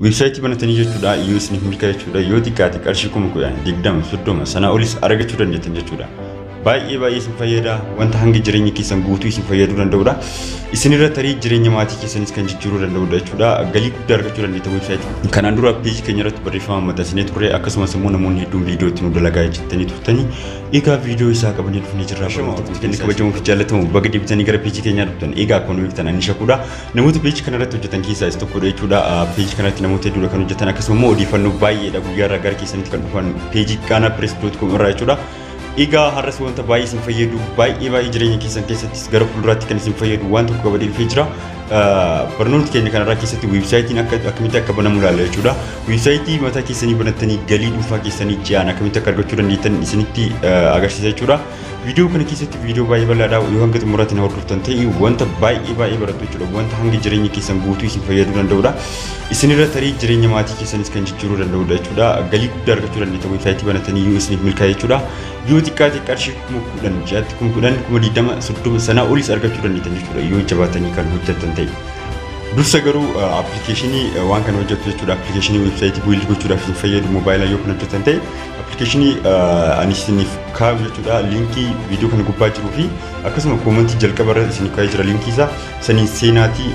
Weebsaayitii banatanii jechuudha yoo isiniif milkaa'e jechuudha yoo xiqqaate qarshii kuma kudhan digdama soddoma sanaa olis argachuu dandeettan jechuudha. Baay'ee baay'ee isin fayyada wanta hanga jireenya keessan guutuu isin fayyaduu danda'udha. Isin irra tarii jireenya maatii keessanis kan jijjiiruu danda'udha jechuudha. Galii guddaa argachuu dandeettan weebsaayitii. Kanaan dura peejii keenya irratti barreeffama maxxansinee turre akkasumas immoo namoonni hedduun viidiyoo itti nu dalagaa jettanii turtanii egaa viidiyoo isaa qabannee dhufnee jirra. Shama hordoftoonni kabajamoo fi jaallatamoo baga deebitanii gara peejii keenyaa dhuftan egaa akkuma beektan ani shakuudha. Namoota peeji kanarratti hojjetan keessaa isa tokkodha jechuudha. Peeji kanarratti namoota hedduudha kan hojjetan akkasuma immoo odeeffannoo baay'eedha guyyaarraa gara keessanitti kan dhufan peejii gaanaa pirees doot koom irraa jechuudha. Egaa har'as wanta baay'ee isin fayyadu baay'ee baay'ee jireenya keessan keessattis gara fuulduraatti kan isin fayyadu waan tokko qabadee dhufee jira. Barnoota keenya kanarraa keessatti weebsaayitiin akka akkamitti akka banamu ilaalla jechuudha. Weebsaayitii mataa keessanii banattanii galii dhuunfaa keessanii ji'aan akkamitti akka argachuu dandeettan isinitti agarsiisa jechuudha. Viidiyoo kana keessatti viidiyoo baay'ee bal'aadha. Yoo hanga xumuraatti na hordoftan ta'e wanta baay'ee baay'ee barattu jechuudha. Wanta hanga jireenya keessan guutuu isin fayyaduu danda'udha. Isinirra tarii jireenya maatii keessanis kan jijjiiruu danda'udha jechuudha. Galii guddaa argachuu dandeettan weebsaayitii banatanii yoo isiniif milkaa'e jechuudha. Yoo xiqqaate qarshii kuma kudhan ji'atti kuma kudhan kuma digdama soddoma sanaa olis argachuu dandeettan jechuudha. Yoo jabaatanii kan hojjettan ta'e. Dursa garuu appilikeeshinii waan kana hojjettu jechuudha. Appilikeeshinii weebsaayitii bu'uura gochuudhaaf isin fayyadu moobaayilaa yoo kan hojjettan ta'e Appilikeeshinii ani isiniif kaa'u jechuudha liinkii viidiyoo kana gubbaa jiruu fi akkasuma koomantii jalqaba irra isiniif kaa'ee jira liinkii isaa saniin seenaatii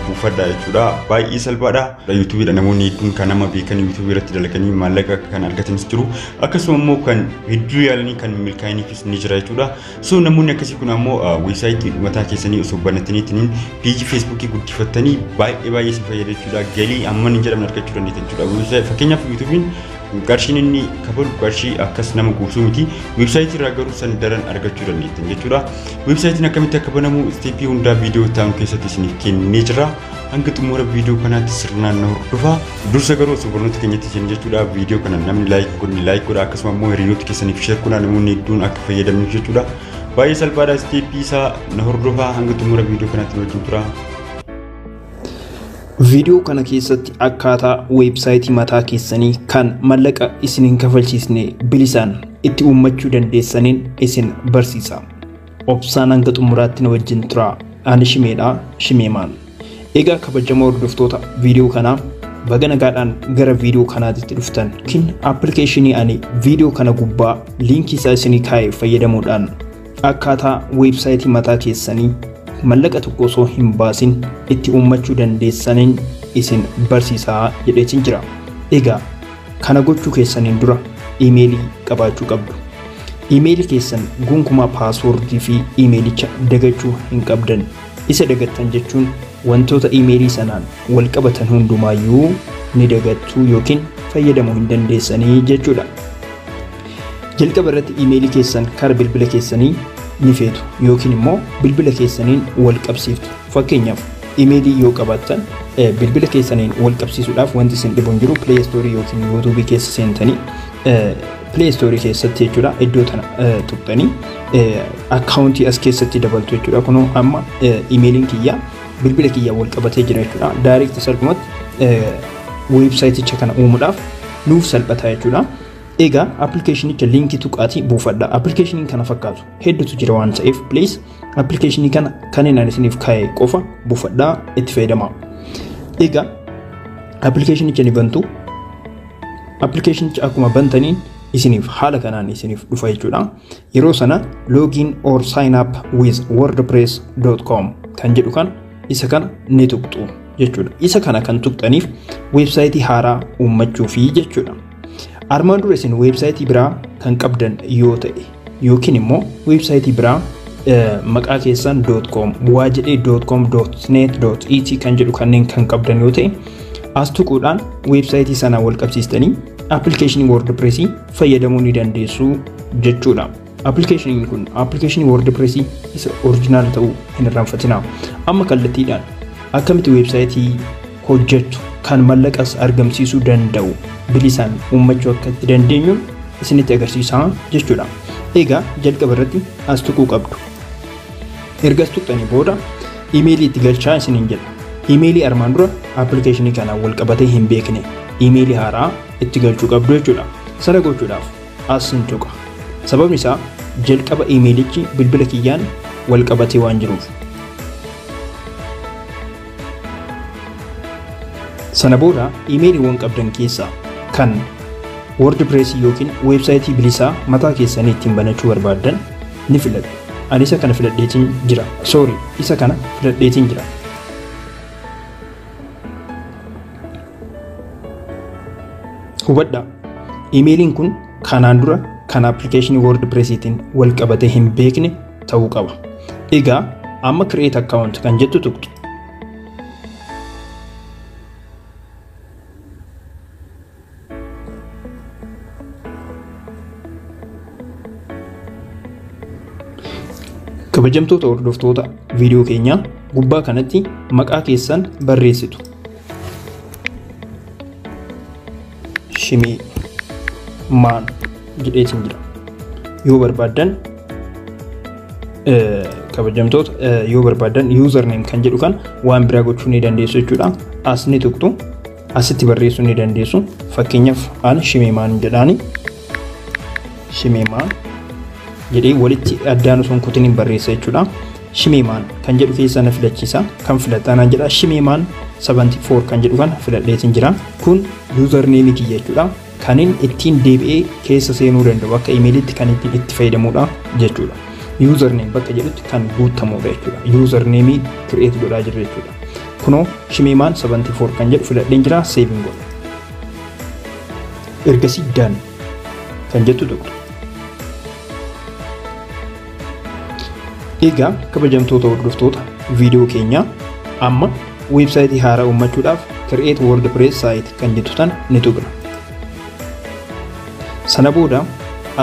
buufadha jechuudha baay'ee salphaadha yuutuubiidha namoonni hedduun kan nama beekan yuutuubii irratti dalaganii maallaqa kan argatanis jiru akkasuma immoo kan hedduu yaalanii kan milkaa'iniifis ni jira jechuudha So namoonni akkasii kun ammoo weebsaayitii dhumataa keessanii osoo banataniitiin peejii feesbuukii guddifattanii baay'ee baay'ee isin fayyada jechuudha. Galii hamman hin jedhamne argachuu dandeettan jechuudha. Fakkeenyaaf yuutuubiin qarshiin inni kafalu qarshii akkas nama guursuu miti. Weebsaayitii irraa garuu san daran argachuu dandeettan jechuudha. Weebsaayitiin akkamitti akka banamu isteeppii hundaa viidiyoo ta'an keessatti isiniif kennee jira. Hanga xumura viidiyoo kanaatti sirnaan na hordofaa. Dursa garuu osoo barnoota keenyatti hin jechuudha viidiyoo kana namni laayik godhni laayik godha akkasuma immoo hiriyoota keessaniif sheer godha namoonni hedduun akka fayyadamnuuf jechuudha. Baay'ee salphaadha isteeppii isaa na hordofaa hanga xumura viidiyoo kanaatti wajjin tura. Viidiyoo kana keessatti akkaataa weebsaayitii mataa keessanii kan mallaqa isin hin kafalchiisne bilisaan itti uummachuu dandeessaniin isin barsiisa. Obsaan hanga xumuraatti na wajjin turaa. Ani Shimeedha, Shimeemaan. Egaa kabajamoo hordoftoota viidiyoo kanaa baga nagaadhaan gara viidiyoo kanaatitti dhuftan yookiin appilikeeshinii ani viidiyoo kana gubbaa liinkii isaa isinii kaa'e fayyadamuudhaan akkaataa weebsaayitii mataa keessanii mallaqa tokko osoo hin baasin itti uummachuu dandeessaniin isin barsiisaa jedheetiin jira. Egaa Kana gochuu keessaniin dura iimeelii qabaachuu qabdu. Iimeelii keessan gonkumaa paaswoordii fi iimeelicha dagachuu hin qabdan. Isa dagattan jechuun wantoota iimeelii sanaan wal qabatan hundumaayyuu ni dagattuu yookiin fayyadamuu hin dandeessanii jechuudha. Jalqaba irratti iimeelii keessan kara bilbila keessanii ni feetu yookiin immoo bilbila keessaniin wal qabsiiftu. Fakkeenyaaf Imeelii yoo qabaattan bilbila keessaniin wal qabsiisuudhaaf wanti isin dhibu hin jiru Play Store yookiin YouTube keessa seentanii Play Store keessatti jechuudha iddoo tana tuqxanii akkaawuntii as keessatti dabaltu jechuudha kunoo amma imeeliin kiyya bilbila kiyya wal qabatee jira jechuudha daayirikti salphumatti weebsaayiticha kana uumuudhaaf nuuf salphata jechuudha. Egaa appilikeeshinicha liinkii tuqaatii buufadha. Appilikeeshiniin kana fakkaatu hedduutu jira waan ta'eef please Appilikeeshinii kana kan inni isiniif kaa'e qofa buufadhaa itti fayyadamaa. Egaa appilikeeshinicha ni bantu. Appilikeeshinicha akkuma bantaniin isiniif haala kanaan isiniif dhufa jechuudha. Yeroo sana login or sign up with wordpress.com kan jedhu kan isa kana ni tuqxu jechuudha. Isa kana kan tuqxaniif weebsaayitii haaraa uummachuufi jechuudha. Armaan dura isin weebsaayitii biraa kan qabdan yoo ta'e yookiin immoo weebsaayitii biraa maqaa keessan .com waa jedhee .com .net .et kan jedhu kanneen kan qabdan yoo ta'e as tuquudhaan weebsaayitii sanaa wal qabsiistanii appilikeeshinii WordPress fayyadamuu ni dandeessu jechuudha. Appilikeeshiniin kun appilikeeshinii WordPress isa orijinaala ta'uu hin irraanfatinaa. Amma kallattiidhaan akkamitti weebsaayitii hojjetu kan mallaqas argamsiisuu danda'u bilisaan uummachuu akka itti dandeenyu isinitti agarsiisaa jechuudha. Egaa jalqaba irratti as tuquu qabdu. Ergas tuqxanii booda imeelii itti galchaa isiniin jedha. Imeelii armaan dura appilikeeshinii kanaan wal qabatee hin beekne imeelii haaraa itti galchuu qabdu jechuudha. Sana gochuudhaaf as hin tuqa. Sababni isaa jalqaba iimeelichi bilbila kiyyaan wal qabatee waan jiruuf. Sana booda iimeeliiwwan qabdan keessaa kan WordPress yookiin weebsaayitii bilisaa mataa keessanii ittiin banachuu barbaaddan ni filadhu. Ani isa kana filadheetiin jira. Sorry, isa kana filadheetiin jira. Hubadhaa, imeeliin kun kanaan dura kan appilikeeshinii WordPressiitiin wal qabatee hin beekne ta'uu qaba. Egaa amma create account kan jettu tuqxu. Kabajamtoota hordoftoota viidiyoo keenyaa gubbaa kanatti maqaa keessan barreessitu. Shimii maan jedheetiin jira. Yoo barbaaddan kabajamtoota yoo barbaaddan username kan jedhu kan waan biraa gochuu ni dandeessu jechuudha. As ni tuqxu. Asitti barreessuu ni dandeessu. Fakkeenyaaf an Shimeemaan jedhaani. Shimeemaan jedhee walitti addaan osoo hin kutin hin barreessa jechuudha. Shimeemaan kan jedhu keessa na filachiisa. Kan filataan an jedha. Shimeemaan 74 kan jedhu kana filadheetiin jira. Kun yuuzarneemii kiyya jechuudha. kanin ittiin deebi'ee keessa seenuu danda'u akka imeeliitti kan ittiin itti fayyadamuudha jechuudha. Username bakka jedhutti kan guuttamuudha jechuudha. Username create godhaa jirra jechuudha. Kunoo shimeemaan 74 kan jedhu filadheen jira saving godha. Ergasii done kan jettu tuqna. Egaa kabajamtoota hordoftoota viidiyoo keenyaa amma weebsaayitii haaraa uummachuudhaaf Create WordPress Site kan jettu tana ni tuqna. Sana booda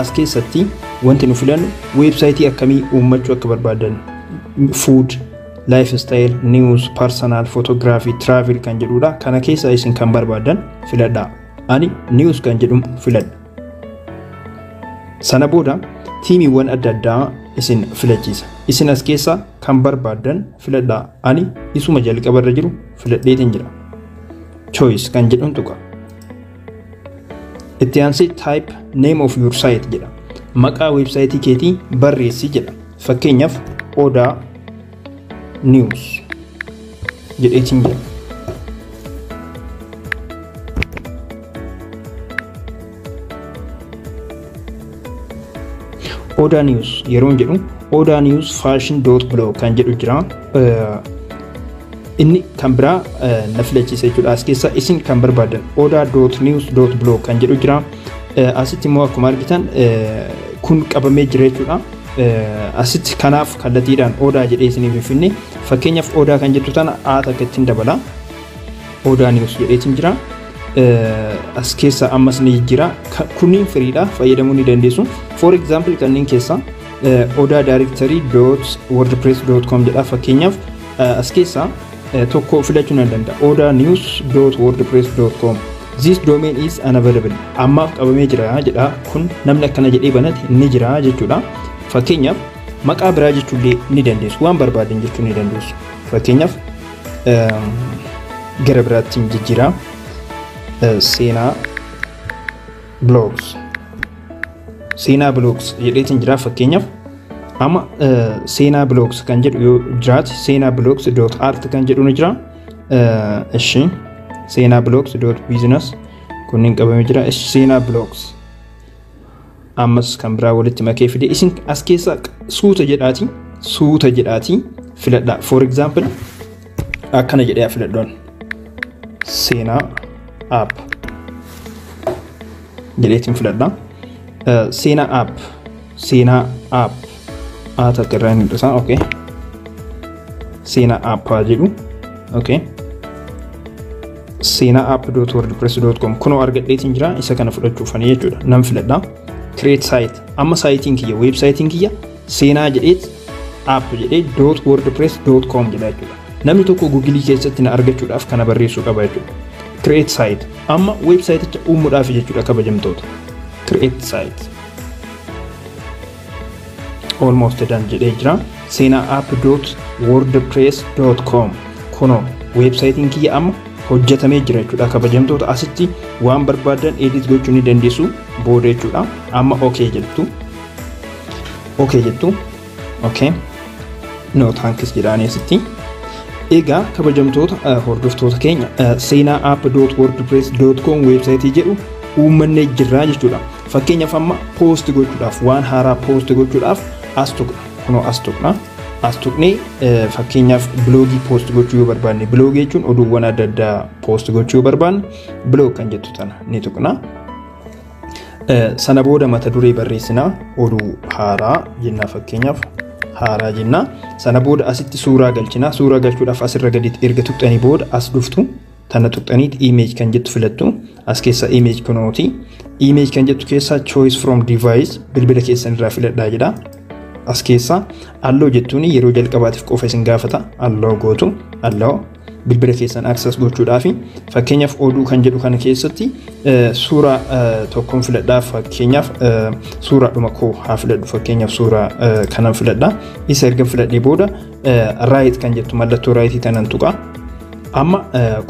as keessatti wanti nu filannu weebsaayitii akkamii uummachuu akka barbaadan food, lifestyle, news, personal, photography, travel kan jedhudha. Kana keessaa isin kan barbaadan filadhaa. Ani news kan jedhu filadha. Sana booda tiimiiwwan adda addaa isin filachiisa. Isin as keessaa kan barbaaddan filadhaa. Ani isuma jalqaba irra jiru filadheetiin jira. Choice kan jedhuun tuqa. Itti aansee type name of your site jedha. Maqaa weebsaayitii keetii barreessi jedha. Fakkeenyaaf odaa news jedheetiin jira. Odaa News yeroo jedhu Odaa News Fashion Dot Blog kan jedhu jira. Inni kan biraa na filachiisa jechuudha. As keessa isin kan barbaadan Odaa Dot News Dot Blog kan jedhu jira. Asitti immoo akkuma argitan kun qabamee jira jechuudha. Asitti kanaaf kallattiidhaan odaa jedhee isiniif hin finne fakkeenyaaf odaa kan jettu tana a takka ittiin dabala odaa niwus jedheetiin jira as keessa ammas ni jijjiira kunniin firiidha fayyadamuu ni dandeessu for example kanneen keessa odaa daarektarii dot wordpress dot com jedha fakkeenyaaf as keessa tokko filachuu nan danda'a. Oda news dot wordpress dot com This domain is unavailable. Ammaaf qabamee jira jedha. Kun namni akkana jedhee banate ni jira jechuudha. Fakkeenyaaf maqaa biraa jechuullee ni dandeessu. Waan barbaadan jechuu ni dandeessu. Fakkeenyaaf gara biraattiin jijjiiraa seenaa blogs seenaa blogs jedheetiin jira fakkeenyaaf Amma seenaa bloogs kan jedhu yoo jiraate seenaa bloogs dot art kan jedhu ni jira. Ishi seenaa bloogs dot business kunniin qabamee jira. Ishi seenaa bloogs ammas kan biraa walitti makee fide isin as keessaa suuta jedhaati suuta jedhaati filadhaa. For example akkana jedhee filadhoon seenaa app jedheetiin filadhaa. Seenaa app Seenaa app aatatti irraa hin mul'isa. Okay. Seenaa app haa jedhu. Okay. Seenaa app dot wordpress dot com kunoo argadheetiin jira isa kana fudhachuufani jechuudha. Nan filadha. Create site amma saayitiin kiyya weebsaayitiin kiyya seenaa jedheet app jedhee dot wordpress dot com jedha jechuudha. Namni tokko gugilii keessatti na argachuudhaaf kana barreessuu qaba jechuudha. Create site amma weebsaayiticha uumuudhaaf jechuudha kabajamtoota. Create site. almost done jedhee jira seenaa app dot wordpress dot com kuno weebsaayitiin kiyya amma hojjetamee jira jechuudha kabajamtoota asitti waan barbaadan edit gochuu ni dandeessu booda jechuudha amma ok jettu ok jettu Okay. No thanks jedhaanii asitti. Egaa kabajamtoota eh, hordoftoota keenya eh, seenaa app.wordpress.com weebsaayitii jedhu uummannee jirraa jechuudha. Fakkeenyaaf amma poosti gochuudhaaf waan haaraa poosti gochuudhaaf as tuqna. Kunoo as tuqna. As tuqnee eh, fakkeenyaaf biloogii poosti gochuu yoo barbaanne biloogii jechuun oduuwwan adda addaa poosti gochuu yoo barbaanne biloog kan jettu tana ni tuqna. Sana booda mata duree barreessinaa oduu haaraa jennaa fakkeenyaaf haaraa jennaa. Sana booda asitti suuraa galchinaa. Suuraa galchuudhaaf asirra gaditti erga tuqxanii booda as dhuftu tana tuqxaniit image kan jettu filattu as keessa image kunooti. Image kan jettu keessaa choice from device bilbila keessan irraa filadhaa jedha. As keessaa alloo jettuun yeroo jalqabaatiif qofa isin gaafata. Alloo gootu alloo bilbila keessan access gochuudhaaf fakkeenyaaf oduu kan jedhu kana keessatti suuraa tokkoon filadhaa fakkeenyaaf suuraa dhuma koo haa filadhu fakkeenyaaf suuraa kanan filadhaa isa erga filadhee booda raayit kan jettu mallattoo raayitii tanan tuqaa amma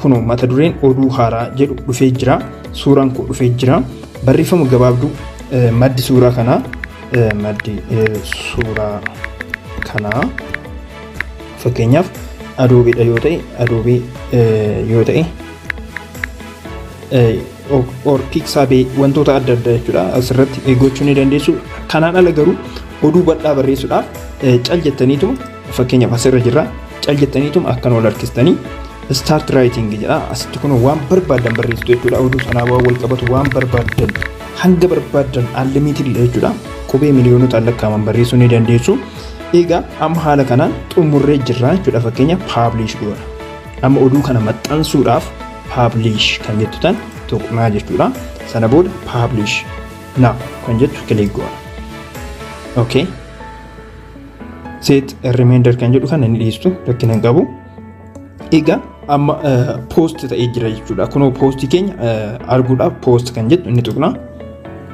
kunoo mata dureen oduu haaraa jedhu dhufee jira suuraan koo dhufee jira barreeffama gabaabduu maddi suuraa kanaa maddi suuraa kanaa Fakkeenyaaf Adobe dha yoo ta'e Adobe yoo ta'e or Pixabay wantoota adda addaa jechuudha asirratti gochuu ni dandeessu. Kanaan ala garuu oduu bal'aa barreessuudhaaf cal jettaniituma fakkeenyaaf asirra jirra cal jettaniituma akkan wal harkistanii start writing jedha asitti kun waan barbaadan barreessitu jechuudha oduu sanaa waan wal qabatu waan barbaadan hanga barbaadan unlimited jechuudha qubee miliyoonota lakkaa'aman barreessuu ni dandeessu. Egaa amma haala kanaan xumurree jirraa jechuudha fakkeenya paabliish goona. Amma oduu kana maxxansuudhaaf paabliish kan jettu tan tuqnaa jechuudha. Sana booda paabliish naa kan jettu kilik goona. Okay. Set remainder kan jedhu kana ni dhiistu rakkina hin qabu. Egaa amma poost ta'ee jira jechuudha. Kunoo poostii keenya arguudhaaf poost kan jettu inni tuqna.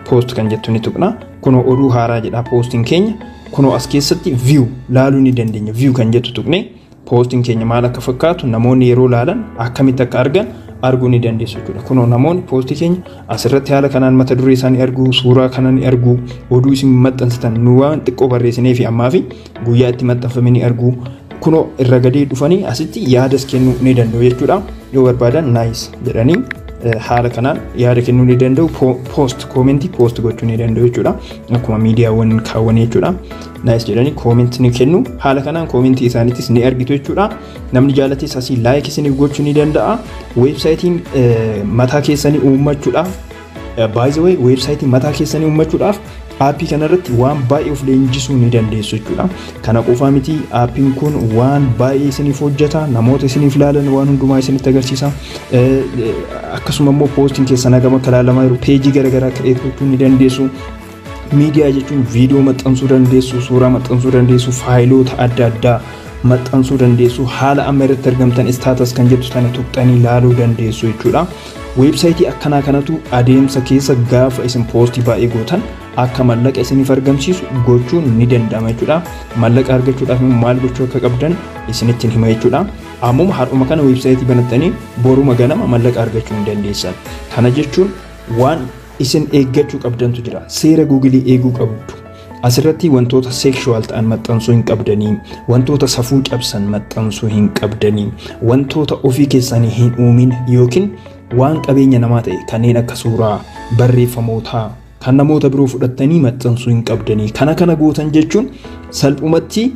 Poost kan jettu inni tuqna. Kunoo oduu haaraa jedha poostiin keenya. Kunoo as keessatti view laaluu ni dandeenya. View kan jettu tuqne poostiin keenya maal akka fakkaatu namoonni yeroo laalan akkamitti akka argan arguu ni dandeessu jechuudha. Kunoo namoonni poostii keenya asirratti haala kanaan mata duree isaanii arguu, suuraa kana ni arguu, oduu isin maxxansitan nu waan xiqqoo barreessinee fi ammaa fi guyyaa itti maxxanfame ni argu kunoo irra gadee dhufanii asitti yaadas kennuu ni danda'u jechuudha yoo barbaadan naayis jedhanii haala kanaan yaada kennuu ni danda'u poost koomentii poost gochuu ni danda'u jechuudha akkuma miidiyaawwan kaawwan jechuudha naayis jedhanii koomentii ni kennu haala kanaan koomentii isaaniitis ni argitu jechuudha namni jaalates asii laayik isiniif gochuu ni danda'a weebsaayitiin mataa keessanii uummachuudhaaf By the way, weebsaayitii mataa keessanii uummachuudhaaf aappii kanarratti waan baay'ee of leenjisuu ni dandeessu jechuudha. Kana qofaa miti aappiin kun waan baay'ee isiniif hojjeta, namoota isiniif ilaalan waan hundumaa isinitti agarsiisa. Akkasuma immoo poostiin keessan hagam akka ilaalamaa jiru peejii garaagaraa kireet gochuu ni dandeessu. Miidiyaa jechuun viidiyoo maxxansuu dandeessu, suuraa maxxansuu dandeessu, faayiloota adda addaa maxxansuu dandeessu, haala amma irratti argamtan istaatas kan jettu sana tuqxanii laaluu dandeessu jechuudha. Weebsaayitii akkanaa kanatu adeemsa keessa gaafa isin poostii baay'ee gootan akka mallaqa isiniif argamsiisu gochuun ni danda'ama jechuudha. Mallaqa argachuudhaaf immoo maal gochuu akka qabdan isinitti hima jechuudha. Ammuma har'uma kana weebsaayitii banattanii boruma ganama mallaqa argachuu hin dandeessan. Kana jechuun waan isin eeggachuu qabdantu jira. Seera Googilii eeguu qabdu. Asirratti wantoota seekshuwaal ta'an maxxansuu hin qabdanii, wantoota safuu cabsan maxxansuu hin qabdanii, wantoota ofii keessanii hin uumin yookiin waan qabeenya namaa ta'e kanneen akka suuraa, barreeffamootaa, kan namoota biroo fudhattanii maxxansuu hin qabdanii. Kana kana gootan jechuun salphumatti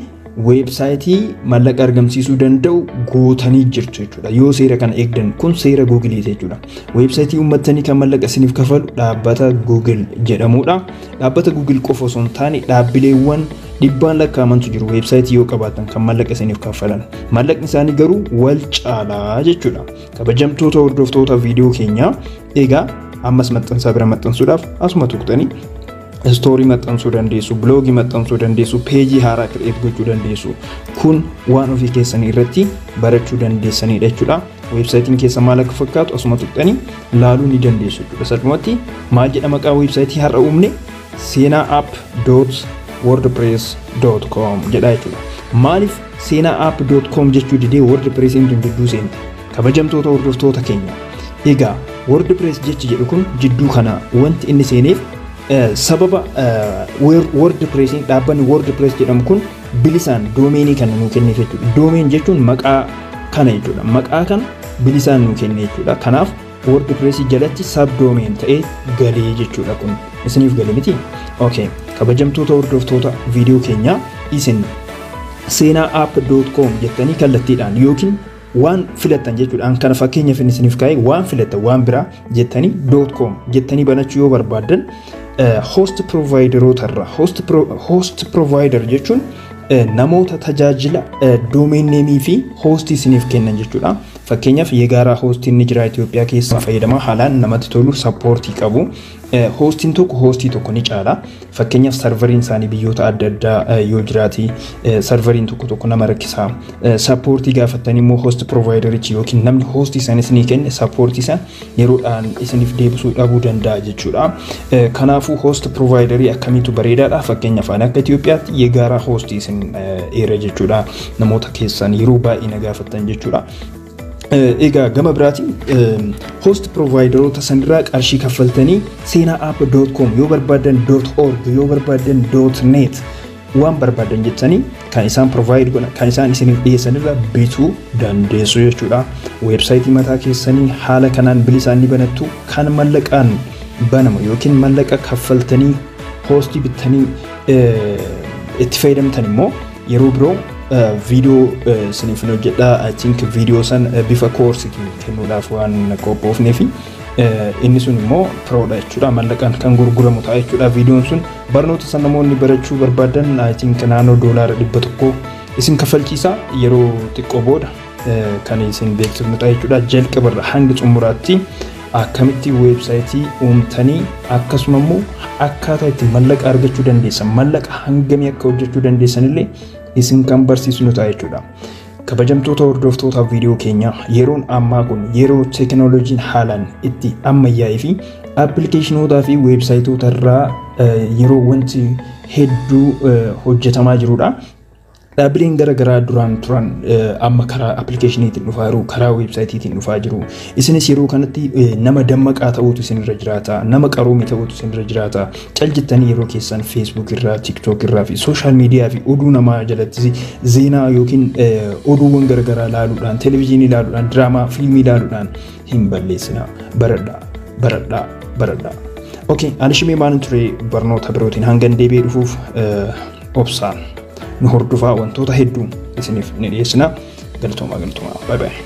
weebsaayitii mallaqa argamsiisuu danda'u gootanii jirtu jechuudha. Yoo seera kana eegdan kun seera Google jechuudha. Weebsaayitii uummattanii kan mallaqa isiniif kafalu dhaabbata Google jedhamudha. Dhaabbata Google qofa osoo hin taane dhaabbileewwan dhibbaan lakkaa'amantu jiru weebsaayitii yoo qabaatan kan mallaqa isiniif kaffalan. Mallaqni isaanii garuu wal caalaa jechuudha. Kabajamtoota hordoftoota viidiyoo keenyaa egaa ammas maxxansaa bira maxxansuudhaaf asuma tuqxanii istoorii maxxansuu dandeessu, biloogii maxxansuu dandeessu, peejii haaraa kireet gochuu dandeessu. Kun waan ofii keessanii irratti barachuu dandeessanidha jechuudha. Weebsaayitiin keessa maal akka fakkaatu asuma tuqxanii laaluu ni dandeessu jechuudha. Salphumatti maal jedha maqaa weebsaayitii har'a uumne seenaa app dot wordpress dot com jedha jechuudha. Maaliif Seenaa app dot com jechuu didee WordPressiin tun jidduu seente. Kabajamtoota hordoftoota keenya. Egaa WordPress jechi jedhu kun jidduu kana wanti inni seeneef eh, sababa eh, Word- WordPressiin dhaabbanni WordPress jedhamu kun bilisaan doomeenii kana nuu kenneef jechuudha. Doomeen jechuun maqaa kana jechuudha. Maqaa kana bilisaan nuu kenne jechuudha. Kanaaf WordPress jalatti subdomain ta'ee galee jechuudha kun isiniif gale miti okay kabajamtoota hordoftoota viidiyoo keenyaa isin seenaa app.com jettanii kallattiidhaan yookiin waan filattan jechuudha an kana fakkeenyaaf inni isiniif kaa'e waan filattan waan biraa jettanii .com jettanii banachuu yoo barbaaddan host provideroota irraa host provider jechuun namoota tajaajila doomeenneemii fi hoostii isiniif kennan jechuudha. Fakkeenyaaf Yegaara hoostiin ni jira Itoophiyaa keessa fayyadamaa haalaan namatti tolu sappoortii qabu. Hoostiin tokko hoostii tokko ni caala. Fakkeenyaaf sarvariin isaanii biyyoota adda addaa yoo jiraate sarvariin tokko tokko nama rakkisa. Sappoortii gaafattanii immoo hoosti provaayidarichi yookiin namni hoostii isaanii isinii kenne sappoortii isaa yeroodhaan isiniif deebisuu dhabuu danda'a jechuudha. Kanaafuu host providerii akkamiitu bareedaadha fakkeenyaaf ani akka Itoophiyaatti yegaara host isin eera jechuudha namoota keessan yeroo baay'ee na gaafattan jechuudha. Egaa gama biraatiin host provideroota sanirraa qarshii kaffaltanii seenaa app.com yoo barbaadan .org yoo barbaadan .net waan barbaadan jettanii kan isaan provide godhan kan isaan isiniif dhiyeessan irraa bituu dandeessu jechuudha. Weebsaayitii mataa keessanii haala kanaan bilisaan ni banattu kan mallaqaan banamu yookiin mallaqa kaffaltanii hoostii bittanii itti fayyadamtan immoo yeroo biroo viidiyoo isiniif hojjedha I think viidiyoo san bifa koorsiitiin kennuudhaaf waan qophoofnee fi inni sun immoo piroodha jechuudha mallaqaan kan gurguramu ta'a jechuudha viidiyoon sun Barnoota san namoonni barachuu barbaadan I think naannoo doolaara dhibba tokko isin kaffalchiisa yeroo xiqqoo booda eh, kan isin beeksifnu ta'a jechuudha jalqabarra hanga xumuraatti akkamitti weebsaayitii uumtanii akkasuma immoo akkaataa itti mallaqa argachuu dandeessan mallaqa hangamii akka hojjechuu dandeessan illee isin kan barsiisnu ta'a jechuudha. Kabajamtoota hordoftoota viidiyoo keenyaa yeroon ammaa kun yeroo teekinooloojiin haalaan itti ammayyaa'ee fi appilikeeshinootaa fi weebsaayitoota irraa yeroo wanti hedduu hojjetamaa jirudha. Dhaabbileen gara garaa duraan turan amma karaa appilikeeshiniitiin dhufaa jiru, karaa weebsaayitiitiin dhufaa jiru. Isinis yeroo kanatti nama dammaqaa ta'uutu isinirra jiraata, nama qaroome ta'uutu isinirra jiraata. Cal jettanii yeroo keessan Facebook irraa, TikTok irraa fi social media fi oduu namaa jalatti zeenaa yookiin oduuwwan garagaraa ilaaluudhaan, televezyiinii ilaaluudhaan, diraamaa, fiilmii ilaaluudhaan hin balleessina. Baradhaa, baradhaa, baradhaa. Okay, ani shimee maalin ture barnoota birootiin hangan deebi'ee dhufuuf obsaan nu hordofaa wantoota hedduu isiniif ni dhiyeessina. Galtoomaa galtoomaa. Bye bye.